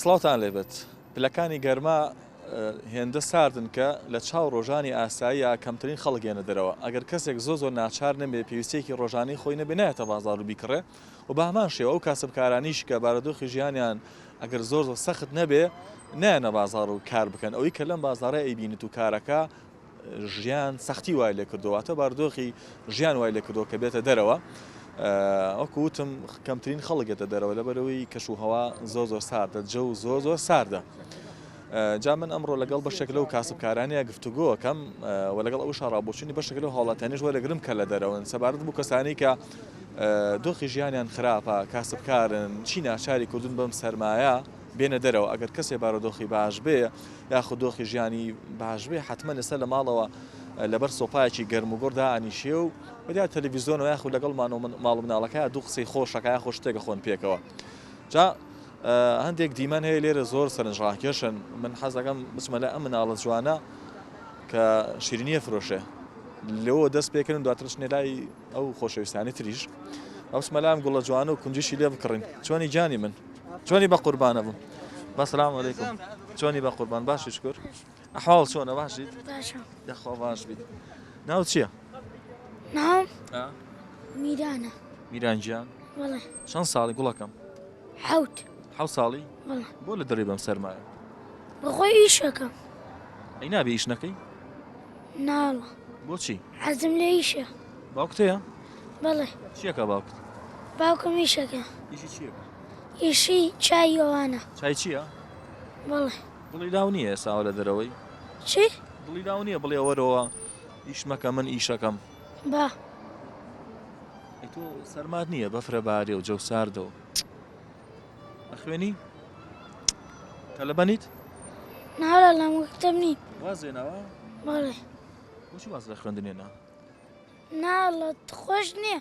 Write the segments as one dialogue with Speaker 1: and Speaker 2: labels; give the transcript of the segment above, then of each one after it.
Speaker 1: سڵاوتان لێبێت پلەکانی گەرما هێندە ساردن کە لە چاو ڕۆژانی ئاساییە کەمترین خەڵگێنە دەرەوە ئەگەر کەسێک زۆ زۆر ناچار نەبێ پێویستێکی ڕۆژانی خۆی نەبێنایەتە بازار و بیکڕێ و بەهمان شێوە ئەو کاسبکارانیش کە بارەدۆخی ژیانیان ئەگەر زۆر زۆر سەخت نەبێ نایەنە بازار و کار بکەن ئەوەی کە لەم بازارە ئەیبینت و کارەکە ژیان سەختی وای لێ کردوواتە باردۆخی ژیان وای لێ کردو کە بێتە دەرەوە ئەوکوتم کەمترین خەڵکێتە دەرەوە لە بەرەوەی کەش و هەوا زۆر زۆر ساردە جە و زۆر زۆر ساردە. جا من ئەمڕۆ لەگەڵ بەشێک لەو کاسبکارانەیە گفتوگۆ ئەکەم و لەگەڵ ئەو شاڕابۆچوونی بەشێک لەو هاوڵاتیانیش وەرەگرم کە لە دەرەوەن سەبارەت بوو کەسانی کە دۆخی ژیانیان خراپە کاسبکارن چی ناچاری کردوون بەم سەرمایە بێنە دەرەوە ئەگەر کەسێ بارۆدۆخی باش بێ یاخود دۆخی ژیانی باش بێ حتممە لەسەر لە ماڵەوە لەبەر سۆپایەکی گەرم و گۆڕدا ئەنیشێ و بەدیا تەلەڤیزیۆنەوە یاخود لەگەڵ ماڵ مناڵەکە دوو قسەی خۆشەکە یاخۆ شتێکە خۆن پێکەوە جا هەندێک دیمەن هەیە لێرە زۆر سەرنجڕاکێشن من حەز دەکەم بچمە لای ئەم مناڵە جوانە کە شیرینیە فرۆشێ لەوە دەست پێکردن دواتر بچنێ لای ئەو خۆشەویستانی تریش ئەوسمە لام گوڵە جوان و کونجیشی لێ بکڕین چۆنی گیانی من چۆنی بە قوربانە بوو بەسلام علیکم چۆنی بە قوربان باشی شکر ئەحواڵ چۆنە باشیت یاخوا باش بیت ناو چییە؟ ناو
Speaker 2: میرانە میران
Speaker 1: گیان چەند
Speaker 2: ساڵی گوڵەکەم
Speaker 1: حەوت
Speaker 2: حەوت ساڵی
Speaker 1: بەڵێ بۆ لە دەرێ
Speaker 2: بەم سەرمایە
Speaker 1: بەخۆی
Speaker 2: ئیشەکەم ئەی نابێ
Speaker 1: ئیش نەکەی ناڵە
Speaker 2: بۆچی
Speaker 1: حەزم لە ئیشە
Speaker 2: باوکتەیە
Speaker 1: بەڵێ
Speaker 2: چیەکە باوکت
Speaker 1: باوکم
Speaker 2: ئیشەکە ئیشی چیەکە
Speaker 1: ئیشی
Speaker 2: چای ئەوانە چای چییە
Speaker 1: بەڵێ
Speaker 2: دڵی لاو
Speaker 1: نییە ساوە لە دەرەوەی چی
Speaker 2: دڵی لاو نییە
Speaker 1: بڵێ وەرەوە ئیش مەکە من ئیشەکەم با. ئەی تۆ سەرمات نییە بەفرە بارێ و جەو ساردە و ئەخوێنی تەلەبەنیت نارا
Speaker 2: لە مکتب نین وازێنەوە
Speaker 1: بەڵێ
Speaker 2: بۆچی واز
Speaker 1: لە خوێندنێنا نا
Speaker 2: لە خۆش نییە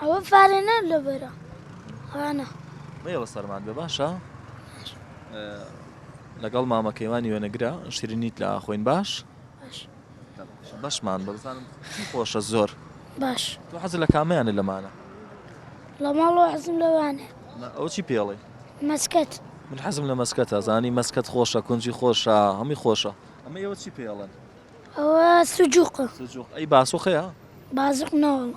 Speaker 1: ئەوە فارە
Speaker 2: نە لە بەرە خانە مەیەوە
Speaker 1: سەرمان بێ باشە لەگەڵ مامە کەیوانی وێنەگرە شیرینیت لە خۆین باش بەشمان بەزانم خۆشە زۆر باش تۆ
Speaker 2: حەز لە کامیانە
Speaker 1: لەمانە لە
Speaker 2: ماڵۆ حەزم لەوانێ ئەو چی پێڵێ
Speaker 1: مەسکەت
Speaker 2: من حەزم لە
Speaker 1: مەسکەتە زانی مەسکەت خۆشە کونجی خۆشە هەمی خۆشە ئەمە ئێوە چی پێڵن ئەوە
Speaker 2: سجوق سجوق ئەی باسۆخەیە
Speaker 1: بازق
Speaker 2: ناوە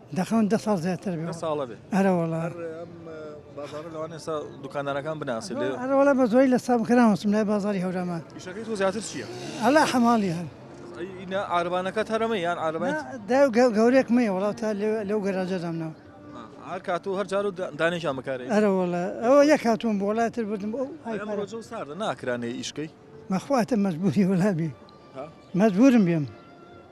Speaker 1: دەخەون دە ساڵ
Speaker 3: زیاتر بێ دە ساڵە بێ ئەرە وەڵا
Speaker 1: هەر ئەم بازارە لەوان ئێستا دوکاندارەکان بناسی لێ ئەرە وەڵا بە زۆری لە سام
Speaker 3: کراوەسم لای بازاری هەورامان ئیشەکەی تۆ زیاتر
Speaker 1: چییە؟ ئەلا حەماڵی
Speaker 3: هەن ئینا
Speaker 1: عاربانەکەت هەرەمە یان عاربان دا گەورێک
Speaker 3: مێ وەڵا تا لەو گەراجە دامناوە هەر کات
Speaker 1: و هەر جار و دانێکیان بکارێ ئەرە وەڵا ئەوە
Speaker 3: یەک هاتووم بۆ وڵای تر بردم ئەو ئەمڕۆجە و ساردە
Speaker 1: ناکرانێ ئیشکەی مەخواتە مەجبوری
Speaker 3: وەلا بێ مەجبورم بێم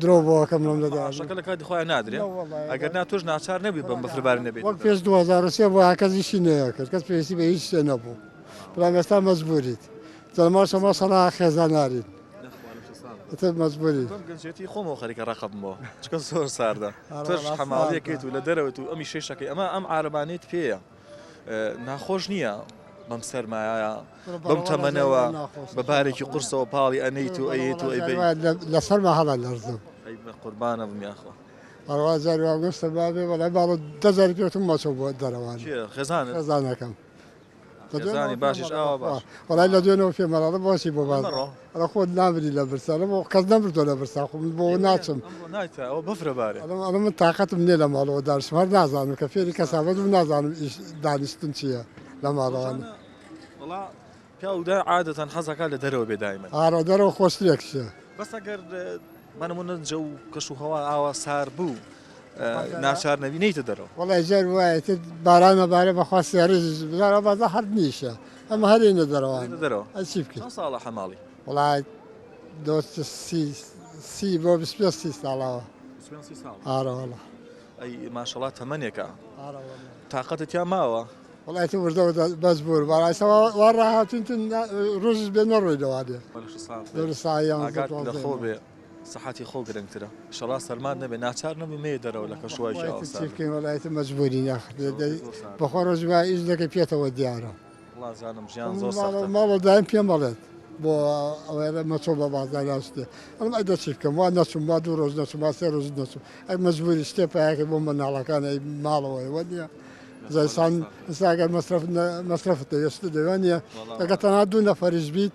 Speaker 4: درۆ بۆ ئەکەم لەم لە داش شەکە لە کاتی خۆیان
Speaker 1: نادرێ ئەگەر نا تۆش ناچار نەبی بم بە فرەبار نەبێت وەک پێش 2023
Speaker 4: بۆ هاکەس یشی نەیەکرد کەس پێویستی بە هیچ شتێ نەبوو بەڵام ئێستا مەجبوریت جەما شەما سەڵا خێزان نارین تر مەجبوری گەنجێتی
Speaker 1: خۆمەوە خەریکە ڕقبمەوە چکە زۆر ساردە تۆش حەماڵیەکەیت و لە دەرەوەت و ئەمی شەی شەکەی ئەمە ئەم عربانیت پێەیە ناخۆش نییە بەم سەرمایە بەم تەمەنەوە بە بارێکی قورسەوە پاڵی ئەنیت و ئەیت و لە سەرما هەڵە
Speaker 4: لەرزم قوربانە
Speaker 1: بمیاخۆ ئەوازار
Speaker 4: واگەستە بابێ بەڵێ باڵە دەزار پێتم مەچە بۆ دەرەوان خێزان خێزانەکەم
Speaker 1: باشش ئەوە وڵای لە دوێنەوە پێمەڵە
Speaker 4: بۆچی بۆ باز ئەرە خۆت نامری لە برسا لەمە کەس نەمردووە لە برسا خۆ من بۆ ناچم ئەمڕۆ نایتە ئەوە بەفرە
Speaker 1: بارێ ئەڵێم ئەڵێ من تاقەتم
Speaker 4: نییە لە ماڵەوە دانیشم هەر نازانم کە فێری کەسابەت بم نازانم ئیش دانیشتن چییە لە ماڵەوە ڕۆژانە وەڵا
Speaker 1: پیاودا عادەتەن حەزەکە لە دەرەوە بێ دایمەن ئارا دەرەوە خۆشترێک
Speaker 4: چییە بەس ئەگەر
Speaker 1: بە نموونە جەو کەش و هەوا ئاوا سار بوو ناچار نەبی نەیتە دەرەوە وڵی جار وایە
Speaker 4: باران نەبارە بەخوا سیارێکی بزارە بەزە حەب نیشە ئەمە هەرێنە دەرەوە دەرەوە ئەچی بکە
Speaker 1: ساڵە
Speaker 4: حەماڵی
Speaker 1: وڵات
Speaker 4: دۆست سی بۆ سی ساڵەوە ئارەوەڵە ئەی
Speaker 1: ماشەڵات تەمەنێکە تااقەتە تیا ماوە وڵایەتی وردەوە
Speaker 4: بەس بوور بەڕاستەوە وا ڕاهاتون ڕژ بێ نەڕۆی دەوا بێ لە
Speaker 1: خۆ بێ سەحەتی خۆ گرنگترە شەڕا سەرمات نەبێ ناچار نەبووی مەیە دەرەوە لە کەشوهەوای ئاو سارد. چی بکەین وەڵا ئیتر
Speaker 4: مەجبوورین ئاخر بەخوا ڕۆژی وا ئیش دەکەین پێتەوە دیارە. وەڵا جانم
Speaker 1: ژیان زۆر سەختە. ماڵە دایم پێم ئەڵێت
Speaker 4: بۆ ئەوەیە مەچۆ بە بازاڕ لا شتێ ئەڵێم ئەی دە چی بکەم وا نەچووم وا دوو ڕۆژ نەچووم وا سێ ڕۆژ نەچووم ئەی مەجبووری شتێ پەیاکەی بۆ منداڵەکان ئەی ماڵەوە ئێوە نییە جا ئینسان ئینسا گەر مەسرەف مەسرەفت دەوێ شتت دەوێ وانییە ئەگەر تەنها دوو نەفەریش بیت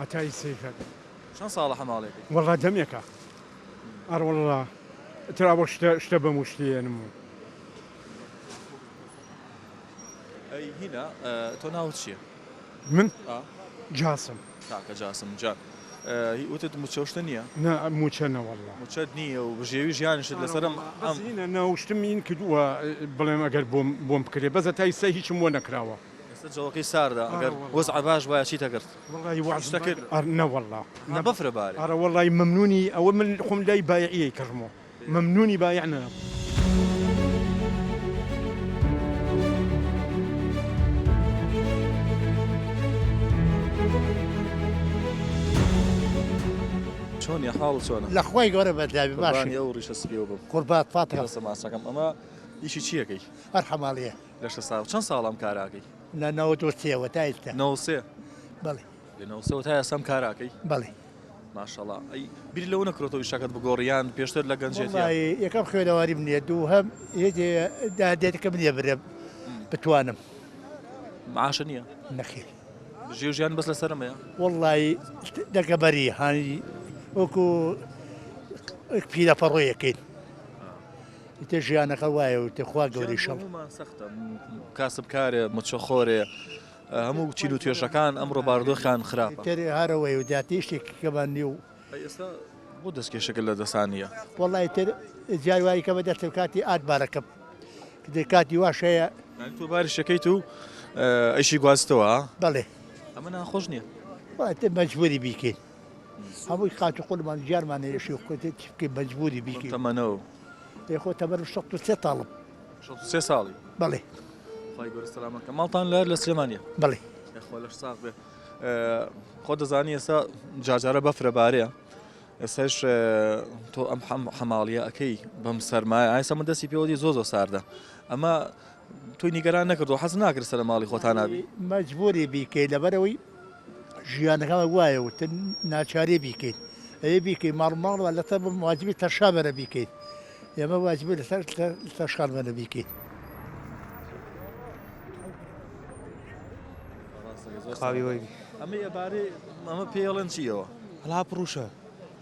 Speaker 5: عەتای سەیفەت. چەند ساڵە
Speaker 1: حەماڵێکەی؟ وەڵا دەمێکە
Speaker 5: ئەڕۆڵڵا ترا بۆ شتە شتە بەم و شتی یەنم و.
Speaker 1: ئەی هینا تۆ ناوت چیە؟ من؟ ئا. جاسم.
Speaker 5: کاکە جاسم
Speaker 1: جا هی وتت موچە و شتە نیە؟ نا موچە نە
Speaker 5: وەڵا. موچەت نیە و بژێوی
Speaker 1: ژیانیشت لەسەر ئەم ئەم. بەس هینا
Speaker 5: ناوشتم ین کردوە بڵێم ئەگەر بۆم بۆم بکرێ بەس هەتا ئیستا هیچم بۆ نەکراوە. ئێستا جەوەکەی
Speaker 1: ساردە ئەگەر وەزعە باش بایە چیت ئەکرد؟ وەڵایی وەعز شتە کرد
Speaker 5: ئەر نەوەڵا نا بەفرە بارێ. ئەرە
Speaker 1: وەڵایی مەمنونی
Speaker 5: ئەوە من خۆم لای بایعیەی کڕمۆ مەمنونی بایع نەم.
Speaker 1: چۆنی حاڵ چۆنە؟ لە خوای گەورە بەردەبی
Speaker 6: باشی. قوربانی ئەو ڕیشە
Speaker 1: سپیەوە بم. قوربات فاتیحە. بەسە
Speaker 6: ماچەکەم ئەمە
Speaker 1: ئیشی چیەکەی؟ هەر حەماڵیە.
Speaker 6: لە شەست ساڵ چەند ساڵە
Speaker 1: ئەم کارە ئەکەی؟ لە نەوەد و
Speaker 6: سێوە تا ئێستا نەوەد و سێ
Speaker 1: بەڵێ
Speaker 6: لە نەوەد و سێوە تا
Speaker 1: ئێستا ئەم کارە ئەکەی؟ بەڵێ
Speaker 6: ماشەڵا
Speaker 1: ئەی بیر لەوە نەکرۆتەوە ئیشەکەت بگۆڕیان پێشتر لە گەنجێتی وەڵاهی یەکەم خوێنەواری
Speaker 6: منە دووهەم هێجێ دادێتەکە منێ برە بتوانم
Speaker 1: معاشە نییە نەخێر
Speaker 6: ژێ و ژیان
Speaker 1: بەس لەسەرمەیە وەڵی
Speaker 6: دەگەبەری هانی وەکو پیرە پەڕۆیەکەیت ئیتر ژیانەکە وایە و تێ خوا گەورەی شەڕ. هەموومان سەختە
Speaker 1: کاسبکارێ مچەخۆرێ هەموو چین و توێژەکان ئەمڕۆ بارودۆخیان خراپە تر هەرەوەی و زیاتر
Speaker 6: شتێکی کەمان نییە و ئێستا
Speaker 1: بۆ دەستکێشەکە لە دەستان نییە وەڵی تر
Speaker 6: جای وای کە بە دەستم کاتی ئات بارەکەم کە کاتی واش هەیە یعنی تۆ باری شەکەیت
Speaker 1: و ئە، ئیشی گوازتەوە ها؟ بەڵێ
Speaker 6: ئەمە ناخۆش
Speaker 1: نییە واتە مەجبوری
Speaker 6: بیکەین هەمووی قات و قورمان گیانمان هەیە شێخ کوتێ چی بکەی مەجبوری بیکەی چەند تەمەنە و
Speaker 1: ئێ خۆ تەبەر
Speaker 6: و شەست و سێ تاڵم شەست و سێ ساڵی
Speaker 1: بەڵێ
Speaker 6: خی گەورە
Speaker 1: سەلامەکە ماڵتان لەر لە سلێمانە بەڵێ یاخوا
Speaker 6: لەش ساغ بێ
Speaker 1: ئێ، خۆ دەزانی ئێستا جارجارە بەفرە بارەیە ئێستاش ئێ، تۆ ئەم حەم- حەماڵیە ئەەکەی بەم سەرمایە ئایسە من دەستی پێوەدی زۆ زۆ ساردە ئەمە تۆی نیگەران نەکردوە حەز ناکرد سەر ماڵی خۆتانا بی مەجبوری بیکەی
Speaker 6: لەبەرەوەی ژیانەکەمە وایە وت ناچارێ بیکەیت ئەوێ بیکەی ماڵ ماڵ لە تە واجبی تەشا بەرە بیکەیت ئێمە واجبی لەسەر تەشخان بەرە بیکەیت
Speaker 7: خاوی وەی ئەمە ئەبارەی
Speaker 1: ئەمە پێڵەن چیەوە هەلا پڕوشە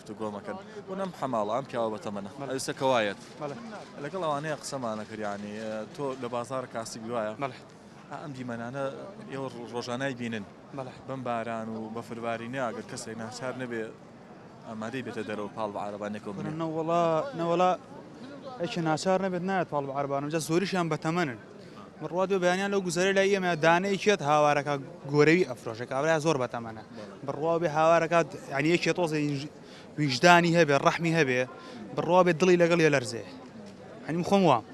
Speaker 1: گفتوگۆ مەکەن ونەم حەماڵە ئەم پیاوە بەتەمەنە ئەویستە کەوایەت لەگەڵ ئەوانەیە قسەمانە کریانی تۆ لە بازار کاسی گروایە ئەم دیمەنانە ئێوە ڕۆژانای بینن بەم باران و بەفربارینە ئەگەر کەسێک ناچار نەبێ ئامادەی بێتە دەرەوە پاڵ بە عربانێکەوە بنە نەوەڵا نەوەڵا
Speaker 7: ئەکی ناچار نەبێت نایەت پاڵ بە عربانم جە زۆریشیان بەتەمەنن بڕوا دوێ بەیانیان لەو گوزەرە لای ئێمە دانەیەکێت هاوارەکە گۆرەوی ئەفرۆشە کابرا زۆر بەتەمەە بڕوا بێ هاوارەکات یانەکێ تۆزە ویژدانی هەبێ ڕەحمی هەبێ بڕوا بێ دڵی لەگەڵ یە لەرزێ هەنیم خۆم وام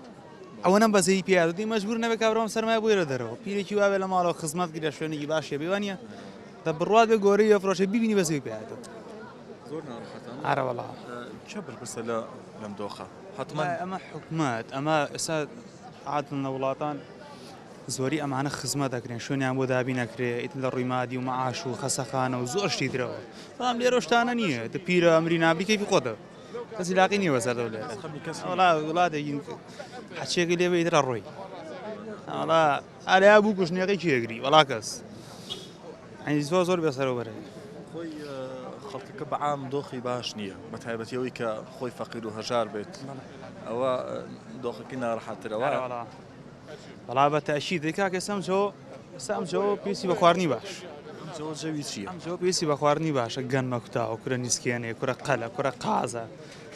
Speaker 7: ئەوە نەم بەزەی پیادی مەجبور نەبێ کابرام سەرمای بۆی لە دەرەوە پیرێکی واێ لە ماڵەوە خزمەت گرە شوێنێکی باشێ بێوانە دە بڕات بێ گۆری ئەفرۆشە ببینی بەزەی پیادەوە
Speaker 1: ئارەوەڵا
Speaker 7: چ بەرپرسە
Speaker 1: لە لەم دۆخە حەتمەن ئەمە
Speaker 7: حکومەت ئەمە ئێستا عادن لە وڵاتان زۆری ئەمانە خزمەت دەکرێن شوێنیان بۆ دابی نەکرێ ئیتن لە ڕووی مادی و مەعاش و خەسەخانە و زۆر شتی درەوە بەڵام لێرە شتانە نییە دە پیرە ئەمری نابریکێکی خۆتە کەسی لاقی نییە بەسەر لێ وڵاتێکی حچێکی لێ بێت لە ڕۆی ئاڵا ئاریا بوو کوشنیەکەی کی ئەگری وەڵا کەس عەندی زۆر زۆر بێسەرەوە بەرەی خۆی
Speaker 1: خەڵکەکە بەعام دۆخی باش نییە بە تایبەتی ئەوەی کە خۆی فەقیر و هەژار بێت ئەوە دۆخەکەی ناڕەحەترەوە
Speaker 7: بەڵا بە تاشی دەکا کە سەمجۆ سامجۆ پێسی بە خواردنی باش جەوی
Speaker 1: چی ئەمجۆ پێسی بە خواردنی
Speaker 7: باشە گەن مەکوتاوە کورە نیسکێنێ کورە قەلە کورە قازە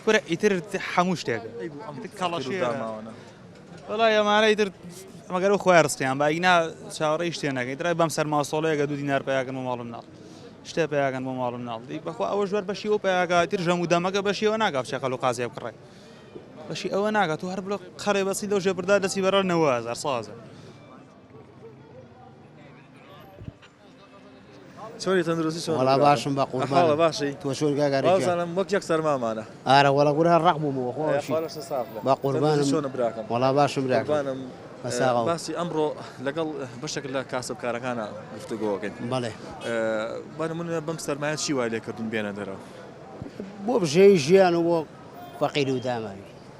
Speaker 7: کورە ئیتر هەموو شتێک کەڵەشێ داماوانە
Speaker 1: وەڵای
Speaker 7: ئەمانە ئیتر مەگەر و خۆیان ڕستیان با ئینا چاوەڕێی شتێ نەکەین درای بەم سەر ماسۆڵەیەگە دوو دینار پیاکەن بۆ ماڵم ناڵ شتێ پیاکەن بۆ ماڵم ناڵ دی بەخوا ئەوە ژوەر بەشی و پیاکاتر ژەم و دەمەکە بەشیەوە ناگاف چێ قەل و قازیێ بکڕێ بەشی ئەوە ناگات و هەر بڵە قەرێ بەسی لەو ژێ بردار دەسی بەرەر نەوەزار سازە
Speaker 1: چۆنی تەندروستی چۆن وەڵا باشم بە قوربان
Speaker 8: باشی تۆ چۆن گاگاری
Speaker 1: بازانم
Speaker 8: وەک یەک سەرمامانە
Speaker 1: ئارە وەڵا گورە
Speaker 8: ڕق بووم وە خۆشی بە قوربان چۆن براکەم وەڵا
Speaker 1: باشم
Speaker 8: براکەم
Speaker 1: باسی
Speaker 8: ئەمڕۆ
Speaker 1: لەگەڵ بەشێک لە کاسبکارەکانە گفتوگۆکەین بەڵێ
Speaker 8: بە
Speaker 1: منە بەم سەرمایە چی وای لێکردون بێنە دەرەوە بۆ
Speaker 8: بژێوی ژیان و بۆ فەقیر و داماوی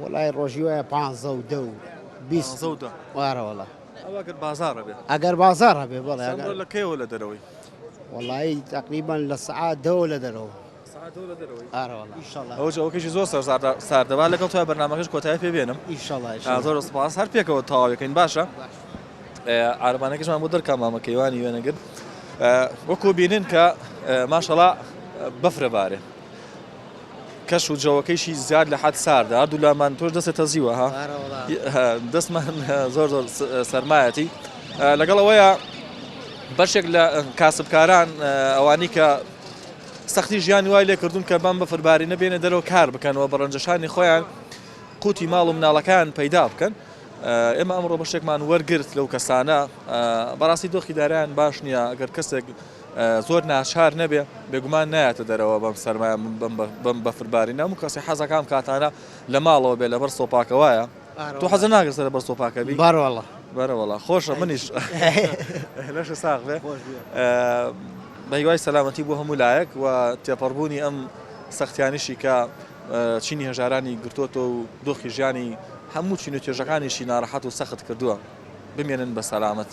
Speaker 1: وەڵای
Speaker 8: ڕۆژی وایە پ و دە و وارەوەڵە
Speaker 1: ئەگەر بازار هەبێ
Speaker 8: بەڵێ لە کەیەوە لە دەرەوەی
Speaker 1: وەڵی
Speaker 8: تقریبان لە سعات دەوە لە دەرەوە
Speaker 1: ئەوەکەشی زۆر ساردەبا لەگەڵ تا بەنامەکەش کۆتای پێ بێنم ئیشڵ زۆر سپاس هەر پێکەوە تاواەکەین باشە عارەبانەکەشمان بۆ دەرکا مامە کەیوانی وێنە گرت وەکو بینن کە ماشەڵا بەفرە بارێ کەش و جەوەکەیشی زیاد لە حەد ساردە هەردوو لامان تۆش دەستێ تەزیوە ها دەستمان زۆر زۆر سەرمایەتی لەگەڵ ئەوەیە بەشێک لە کاسبکاران ئەوانی کە سەختی ژیان وای لێ کردوون کە بەم بەفربارینە بێنە دەرەوە کار بکەنەوە بە ڕەنجەشانی خۆیان قوتی ماڵ و مناڵەکان پەیدا بکەن ئێمە ئەمڕۆ بەشێکمان وەرگرت لەو کەسانە بەڕاستی دۆخی دارایان باش نییە ئەگەر کەسێک زۆر ناچار نەبێ بێگومان نایەتە دەرەوە بەم سەرمایە بەم بەفرباری نام و کەسی حەزەکان کاتانە لە ماڵەوە بێ لەبەر سۆپاکەوەیە تۆ حەزە ناگرسە لە بەر سۆپاکەبی بارواڵە بەرەوەڵا
Speaker 8: خۆشە
Speaker 1: منیش لەش ساغ بێ بەیوای سەلامەتی بۆ هەموو لایەک و تێپەڕبوونی ئەم سەختیانیشی کە چینی هەژارانی گرتۆتەوە و دۆخی ژیانی هەموو چین و توێژەکانیشی ناڕەحەت و سەخت کردووە. بمێنن بە سەلامەت.